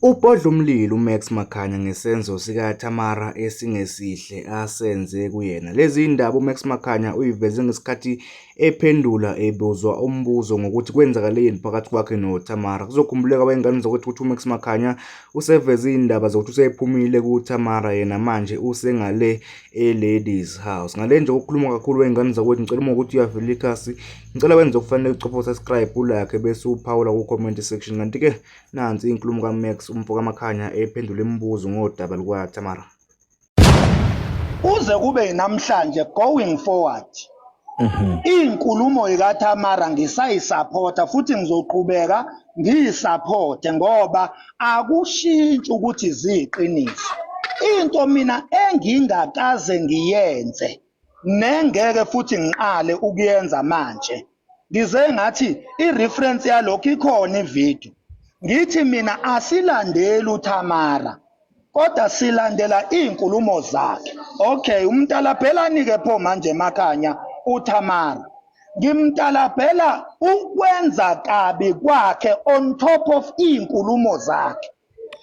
Ubhodla umlilo uMax Makhanya ngesenzo sikaTamara esingesihle asenze kuyena. Lezi zindaba uMax Makhanya uyiveze ngesikhathi ephendula ebuzwa umbuzo ngokuthi kwenzakaleni phakathi kwakhe noTamara. Kuzokhumbuleka wayengane zokuthi ukuthi uMax Makhanya useveze izindaba zokuthi usephumile kuTamara yena manje usengale e-ladies house. Ngale nje ukukhuluma kakhulu wengane zakwethu ngicela uma ukuthi uyavela ikhasi ngicela wenze okufanele ucopho subscribe ulakhe bese uphawula ku-comment section kanti-ke Nansi inkulumo kaMax umfo kaMakhanya ephendula imibuzo ngodaba lukaTamara. Kuze kube namhlanje going forward mhm. inkulumo ikaTamara ngisayisupporta futhi ngizoqhubeka ngiyisupporte ngoba akushintshi ukuthi ziyiqiniso. Into mina engingakaze ngiyenze nengeke futhi ngiqale ukuyenza manje ngize ngathi i-reference yalokho ikhona ivideo ngithi mina asilandeli uthamara kodwa silandela iy'nkulumo zakhe okay umtalabhelani-ke pho manje emakhanya uthamara ngimtalabhela ukwenza kabi kwakhe on top of iy'nkulumo zakhe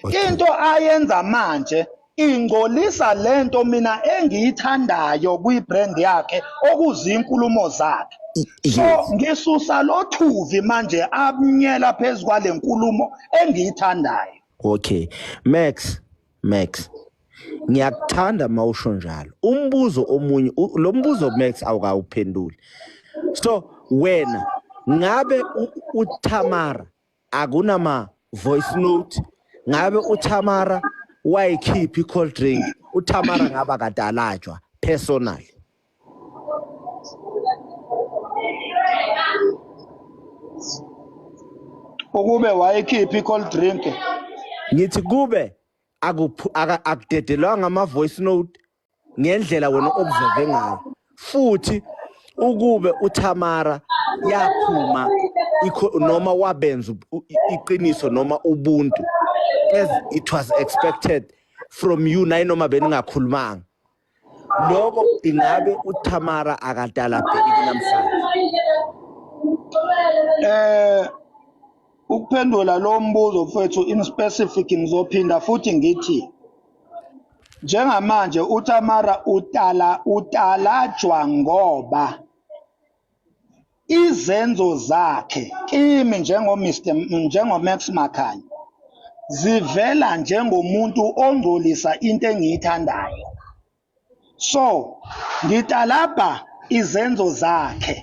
Into ayenza manje ingcolisa lento mina engiyithandayo kwi-brand yakhe okuzinkulumo zakhe so ngisusa lothuvi manje amnyela phezu kwale nkulumo engiyithandayo okay max max ngiyakuthanda mawusho njalo umbuzo omunye lo mbuzo max awukawuphenduli so wena ngabe uThamara akunama voice note ngabe uTamara wayikhiphi cold drink uTamara ngaba kadalajwa personal ukube wayikhiphi cold drink ngithi kube akudedelwanga ama voice note ngendlela wena observe ngayo futhi ukube uThamara yaphuma noma wabenza iqiniso noma ubuntu as it was expected from you naye noma beningakhulumanga lokho ingabe uThamara akadala bheki namhlanje eh ukuphendula lo mbuzo mfethu in specific ngizophinda futhi ngithi Njengamanje uTamara utala utalajwa ngoba izenzo zakhe kimi njengo Mr njengo Max Makhanya zivela njengomuntu ongcolisa into engiyithandayo. So ngitalabha izenzo zakhe.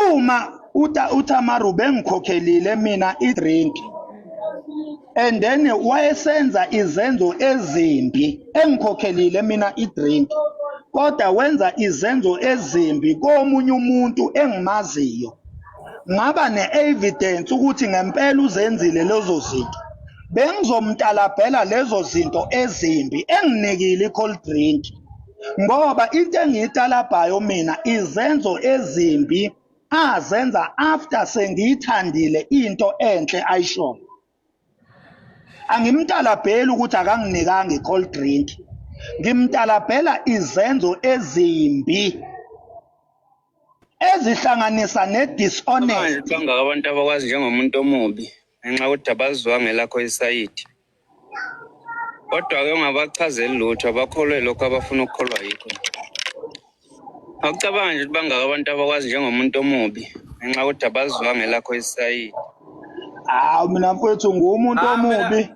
Uma uta uTamar ubengikhokhelile mina idrink and then wayesenza izenzo ezimbi engikhokhelile mina idrink kodwa wenza izenzo ezimbi komunye umuntu engimaziyo ngaba ne-evidence ukuthi ngempela uzenzile lezo zinto bengizomtalabhela lezo zinto ezimbi enginikile i-cold drink ngoba into engiyitalabhayo mina izenzo ezimbi azenza after sengiyithandile into enhle ayishoyo angimtalabheli ukuthi akanginikanga i-cold drink ngimtalabhela izenzo ezimbi ezihlanganisa ne-dishonest kangaka abantu abakwazi njengomuntu omubi ngenxa yokuthi abazwa ngelakho isayidi kodwa-ke ungabachazeli lutho abakholwe lokho abafuna ukukholwa yikho Akucabangi nje ukuthi bangaka abantu abakwazi njengomuntu omubi ngenxa yokuthi abazwanga elakho isayidi. Hawu mina mfowethu nguwumuntu Ah, mina- omubi.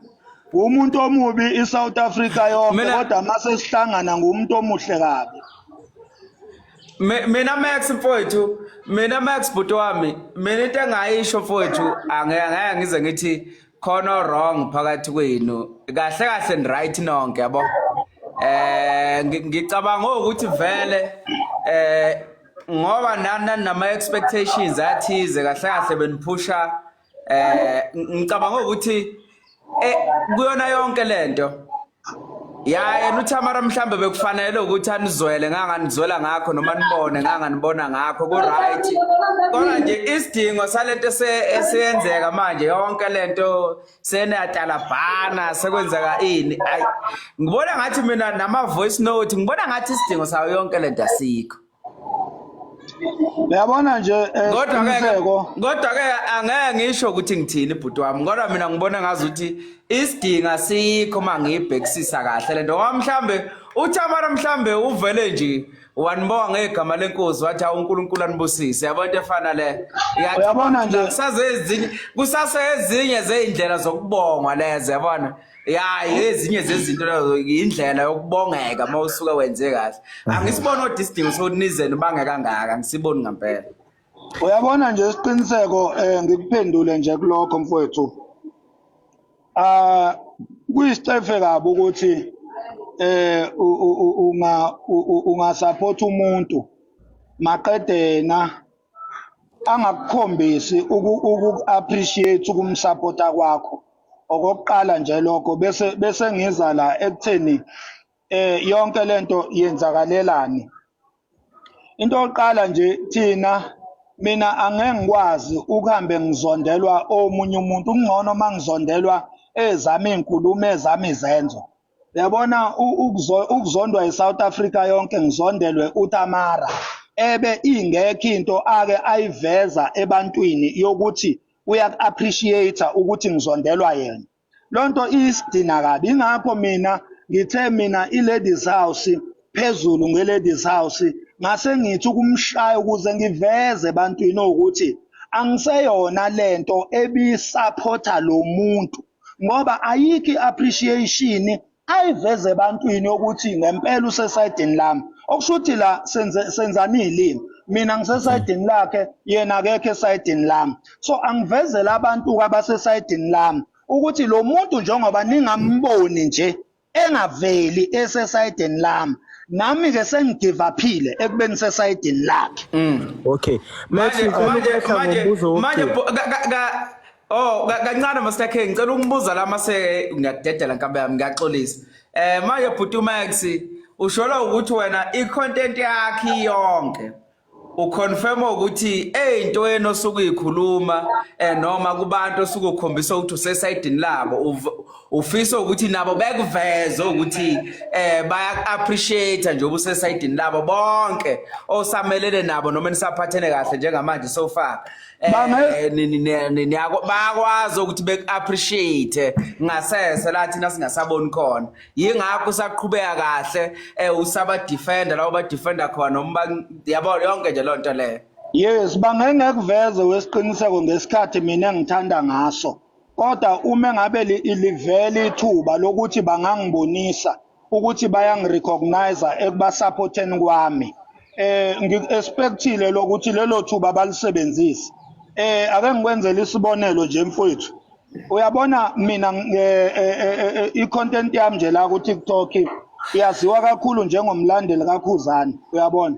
Nguwumuntu omubi iSouth Africa yonke Mina- kodwa mase sihlangana nguwumuntu omuhle kabi. Mi- Mina Max mfowethu, mina Max bhuti wami, mina into engayisho mfowethu, ange angeke ngize ngithi khona wrong phakathi kwenu kahle kahle ni right nonke yabo eh ngicabanga ukuthi vele eh ngoba nana nama expectations athize kahle kahle beniphusha eh ngicabanga ukuthi eh kuyona yonke lento ya yena uthamara mhlawumbe bekufanele ukuthi anizwele nganganizwela ngakho noma nibone nganganibona ngakho ku-right kodwa nje isidingo salento esiyenzeka manje yonke lento seneyatalabhana sekwenzeka ini ayi ngibona ngathi mina nama-voice note ngibona ngathi isidingo sayo yonke lento asikho Uyabona nje eh, kodwa ke isiqiniseko kodwa ke angeke ngisho ukuthi ngithini bhuti wami kodwa mina ngibona ngazi ukuthi isidingo asikho uma ngiyibhekisisa kahle le nto ngoba mhlawumbe uthamara mhlawumbe uvele nje wanibonga ngegama lenkosi wathi awu unkulunkulu anibusise yabo into efana le Iyathi- Uyabona nje- kusasezinye kusasezinye zey'ndlela zokubongwa lezo yabona ya ezinye zezinto lezo yindlela yokubongeka uma usuke wenze kahle angisiboni kodwa isidingo sokuthi nizeni ubange kangaka angisiboni ngampela uyabona nje isiqiniseko um ngikuphendule nje kulokho mfowethu um kuyisicefe kabi ukuthi um ungasaphothi umuntu maqede yena angakukhombisi uku-appreciate ukumsapota kwakho okokuqala nje lokho bese bese ngiza la ekutheni eh yonke lento yenzakalelani into yokuqala nje thina mina angeke ngikwazi ukuhambe ngizondelwa omunye umuntu kungcono uma ngizondelwa ezami iy'nkulumo ezami izenzo Yabona ukuzondwa eSouth Africa yonke ngizondelwe uTamara ebe ingekho into ake ayiveza ebantwini yokuthi uyaku-appreciate ukuthi ngizondelwa yena. Lo nto iyisidina kabi ingakho mina ngithe mina i-ladies house phezulu nge-ladies house ngase ngithi ukumshaya ukuze ngiveze ebantwini ukuthi angiseyona lento ebisaphotha lo muntu ngoba ayikho i-appreciation ayiveze ebantwini ukuthi ngempela usesayidini lami okusho ukuthi la senzani iy'limi mina ngisesayidini lakhe yena akekho esayidini lami so angivezele abantu-ke abasesayidini lami ukuthi lo muntu njengoba ningamboni nje engaveli esesayidini lami nami ke sengigivaphile ekubeni sesayidini lakhe mm. okay manje manje manje manje oh kancane masakhe ngicela ukungibuza la mase ngiyadedela nkabe yami ngiyaxolisa eh manje bhuti umax ushola ukuthi wena i content yakhe yonke uconfirma ukuthi eyinto yena osuke uyikhuluma eh, noma kubantu osuke ukhombisa ukuthi usesayidini labo ufisa ukuthi nabo bekuveze ukuthi eh baya-appreciate nje ubusesayidini labo bonke osamelene nabo noma nisaphathene kahle njengamanje so far eh, bayakwazi ukuthi beku-appreciate ngasese la thina singasaboni khona yingakho usaqhubeka kahle eh usaba defender lawo ba defender khona noma yabo yonke nje lonto leyo yes bangengekuveze wesiqiniseko ngesikhathi mina ngithanda ngaso kodwa uma ngabe livele ithuba lokuthi bangangibonisa ukuthi bayangirecognize ekubasupporteni kwami eh ngi-expectile lokuthi lelo thuba balisebenzise eh ake ngikwenzele isibonelo nje mfowethu uyabona mina eh, eh, eh, i-content yami nje la ku-tiktok iyaziwa kakhulu njengomlandeli kakhuzane uyabona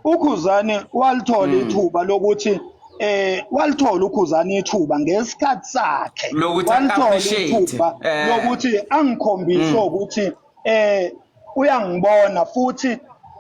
ukhuzane walithola hmm. ithuba lokuthi eh walithola ukhuzana ithuba ngesikhathi sakhe walithola ithuba lokuthi angikhombise hmm. ukuthi eh uyangibona futhi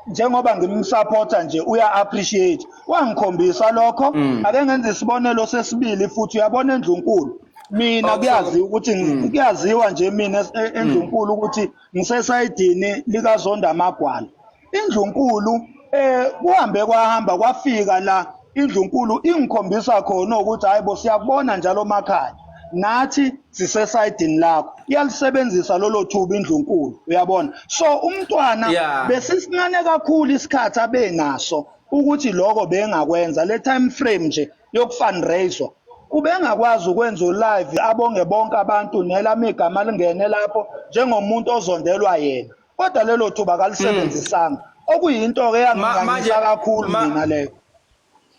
njengoba ngimsupporta nje uya appreciate wangikhombisa lokho mm. ake ngenze isibonelo sesibili futhi uyabona endlunkulu mina kuyaziwa ukuthi mm. kuyaziwa nje mina e, endlunkulu mm. ukuthi ngisesayidini likazonda amagwala Indlunkulu eh kuhambe kwahamba kwafika la indlunkulu ingikhombisa khona ukuthi hayibo siyakubona njalo makhaya nathi sisesayidini lakho iyalisebenzisa lolo thuba indlunkulu uyabona so umntwana yeah. besisincane kakhulu isikhathi abenaso ukuthi lokho bengakwenza le time frame nje yokufundraiser ubengakwazi ukwenza ulive abonge bonke abantu nelami igama lingene lapho njengomuntu ozondelwa yena kodwa lelo thuba kalisebenzisanga mm. okuyinto ke yangingangisa kakhulu mina leyo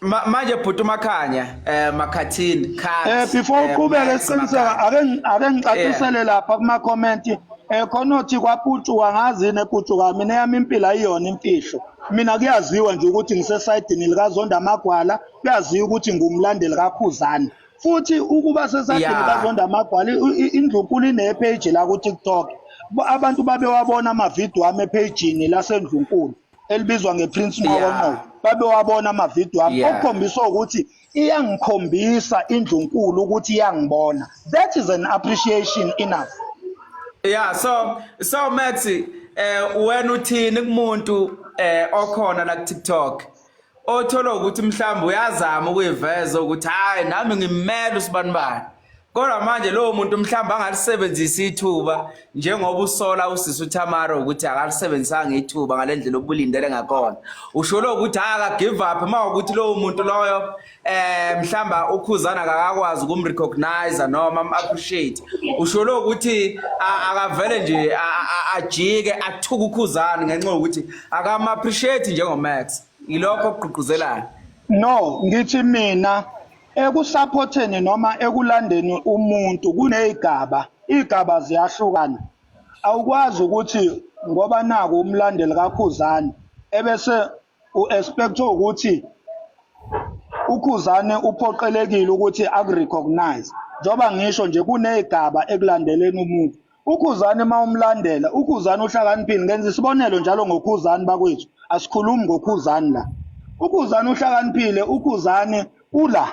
manje bhuti umakhanya eh makhathini khaya eh before eh, uqhubeke siqiniseka ake ake ngicacisele lapha kuma comment eh khona othi kwaputshu wangazi neputshu kami neyami impilo ayiyona imfihlo mina kuyaziwa nje ukuthi ngisesayidini likazonda amagwala kuyaziwa ukuthi ngumlandeli kakhuzani futhi ukuba sesadini yeah. kazonda magwala indlunkulu inepage la ku-tiktok abantu babewabona amavidiyo ami ephejini lasendlunkulu elibizwa ngeprince nqokonqoko yeah. babewabona amavidiyo ami yeah. okukhombisa ukuthi iyangikhombisa indlunkulu ukuthi iyangibona that is an appreciation enough yeah so so mathi eh wena uthini kumuntu eh okhona la ku-tiktok othola ukuthi mhlawumbe uyazama ukuyiveza ukuthi hayi nami ngimele usibanibani kodwa manje lowo muntu mhlawumbe angalisebenzisa ithuba njengoba usola usisi uTamara ukuthi akalisebenzisanga ithuba ngalendlela obulindele ngakhona usholo ukuthi akagive up uma ukuthi lowo muntu loyo eh mhlamba ukhuzana akakwazi ukumrecognize noma am appreciate usholo ukuthi akavele nje ajike athuka ukhuzana ngenxa ukuthi akam appreciate njengo Max ilokho okuqhuquzelayo no ngithi mina ekusupporteni noma ekulandeni umuntu kunezigaba izigaba ziyahlukana awukwazi ukuthi ngoba naku umlandeli kakhuzana ebese U-expectwe ukuthi uKhuzane uphoqelekile ukuthi akurecognize njengoba ngisho nje kunezigaba ekulandeleni umuntu ukhuzani uma umlandela ukhuzani uhlakaniphile ngenza isibonelo njalo ngokhuzani bakwethu asikhulumi ngokhuzani la ukhuzani uhlakaniphile ukhuzani ula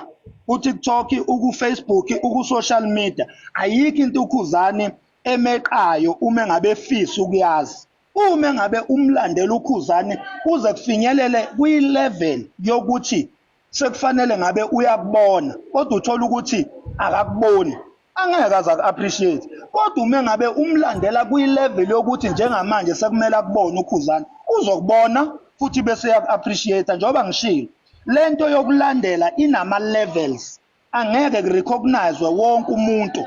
kuTikTok ukuFacebook ukusocial media ayikho into ukhuzani emeqayo uma ngabe efisa ukuyazi Uma engabe umlandela uKhuzani kuze kufinyelele kwi-level yokuthi sekufanele ngabe uyakubona kodwa uthola ukuthi akakuboni angeke aze aku-appreciate kodwa uma engabe umlandela kwi-level yokuthi njengamanje sekumele akubone ukhuzana uzokubona futhi bese uyaku-appreciate njengoba ngishilo le nto yokulandela inama-levels angeke kurecognize wonke umuntu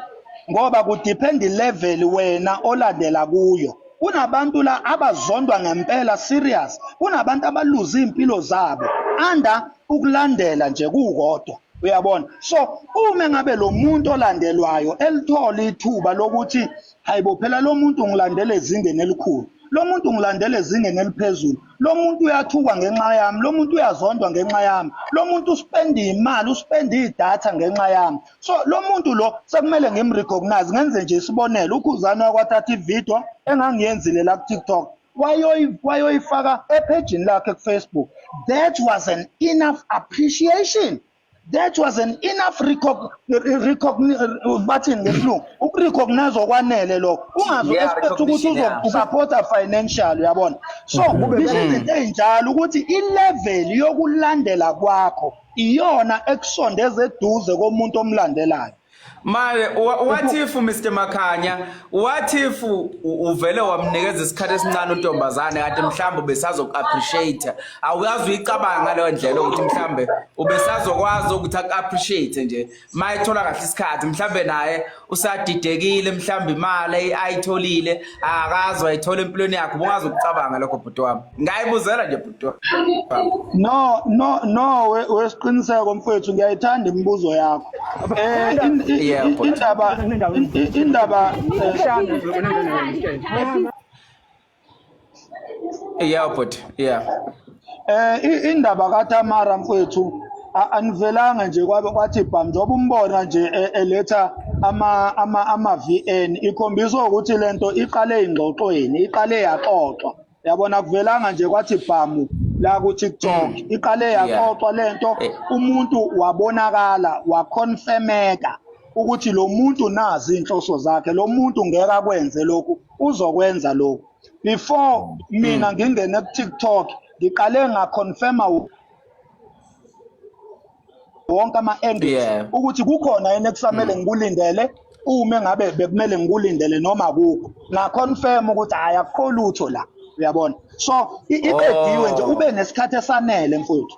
ngoba kudepend level wena olandela kuyo kunabantu la abazondwa ngempela serious kunabantu abaluza impilo zabo anda ukulandela nje kukodwa uyabona so uma ngabe lo muntu olandelwayo elithola ithuba lokuthi hayibo phela lo muntu ngilandele ezingeni elikhulu lo muntu ngilandele ezingeni eliphezulu lo muntu uyathukwa ngenxa yami lo muntu uyazondwa ngenxa yami lo muntu uspenda iy'mali uspenda idatha ngenxa yami so lo muntu lo sekumele ngimrecognize ngenze nje isibonelo ukhuzane wakwathatha ividiyo engangiyenzile la ku-tiktok wayoyifaka ephejini lakhe kufacebook that was an enough appreciation that was an enough bathini ngesilungu ukurecognize okwanele lokho ungazi expect ukuthi uzokusupporta financial uyabona so bisho izinto ey'njalo ukuthi ilevel yokulandela kwakho iyona ekusondeza eduze komuntu omlandelayo Manje what if Mr Makhanya what if uvele wamnikeza isikhathi esincane untombazane kanti mhlawumbe ubesazoku appreciate awuyazi uyicabanga ngaleyo ndlela ukuthi mhlawumbe ubesazokwazi ukuthi aku appreciate nje mayithola kahle isikhathi mhlawumbe naye usadidekile mhlawumbe imali ayitholile akazi wayithola empilweni yakho ubungazi ukucabanga lokho bhuti wami ngayibuzela nje bhuti no no no wesiqiniseko mfethu ngiyayithanda imibuzo yakho eh indaba indaba eh, Yeah but yeah. Eh indaba kaTamara mfethu anivelanga nje kwabe kwathi bham njengoba umbona nje e, eletha ama ama ama VN ikhombisa ukuthi lento iqale ingxoxweni iqale yaxoxwa yabona kuvelanga nje kwathi bhamu la ku TikTok mm. iqale yaxoxwa lento eh. umuntu wabonakala waconfirmeka ukuthi lo muntu nazi inhloso zakhe lo muntu ngeke akwenze lokhu uzokwenza lokhu before mina ngingene ku TikTok ngiqale nga confirma wonke ama endings Yeah. ukuthi kukhona yini ekusamele ngikulindele uma ngabe bekumele ngikulindele noma kukho nga confirm ukuthi hayi akukho lutho la uyabona so i- iqediwe nje Oh. ube nesikhathi esanele mfowethu